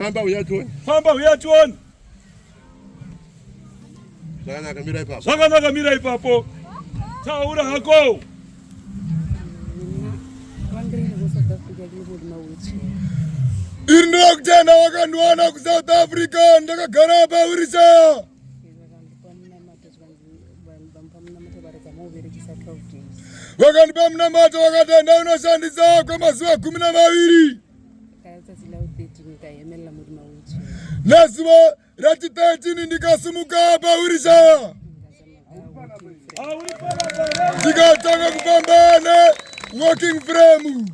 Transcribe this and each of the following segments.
Famba uya tione. Famba uya tione. Zvakanaka mira ipapo. Zvakanaka mira ipapo. Taura hako. Iri ndakutenda wakandiwana kuSouth Africa ndakagara paurisa. Wakandipa munamato wakatenda unoshandisa kwemazuva gumi na maviri. Nezuva rachi 13 ndikasimuka pahwirisha ndikatanga kufamba ne walking frame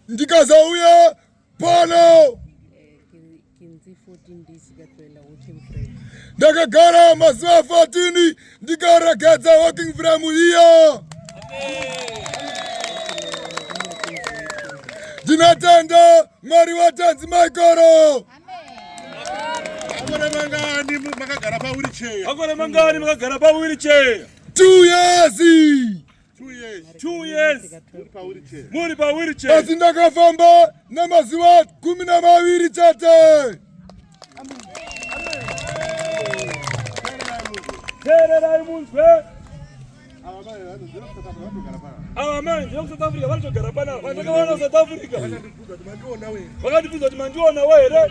ndikazauya Pano ndakagara mazuva 14 ndikaregedza walking frame iya ndinatenda mwari watanzi maikoro makagara pawiricheya makore mangani makagara pawiricheya two years muri pawiriche asi ndakafamba namazuva gumi namaviri chete teererai munzwe ava mai ndiri kusouth africa vanotogara panapa ndakavaona south africa vakandibvunza kuti mandiona we here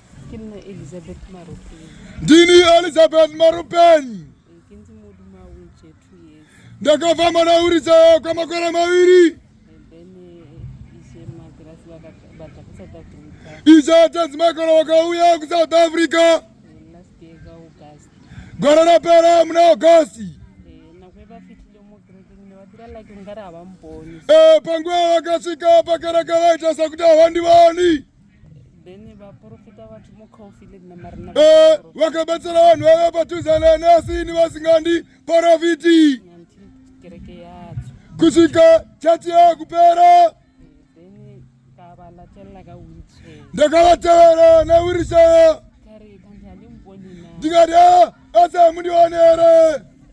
ndini elizabeth marupeni ndakava mwana uridza kwamakore maviri iza tanzi makore wakauya kusouth africa gwara rapera muna augusti eh, panguva vakasvika pakereke vaita sekuti havandivani Eh, vakabatsira vanhu vave patuzana nasi ni vasingandi porofiti kusvika chati yava kupera ndakavatevera newirisheya ndikati ah, asi hamundionere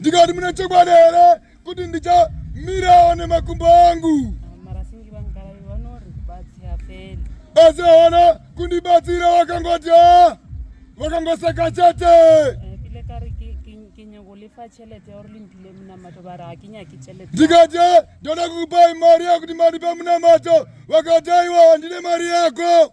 ndikati mune chokwadi here kuti ndichamirawo nemakumbo angu asi hawana kundibatsira wakangodya wakangoseka chete ndikati ndoda kukupai mari yakuti mandipa munamato vakati aiwa handine mari yako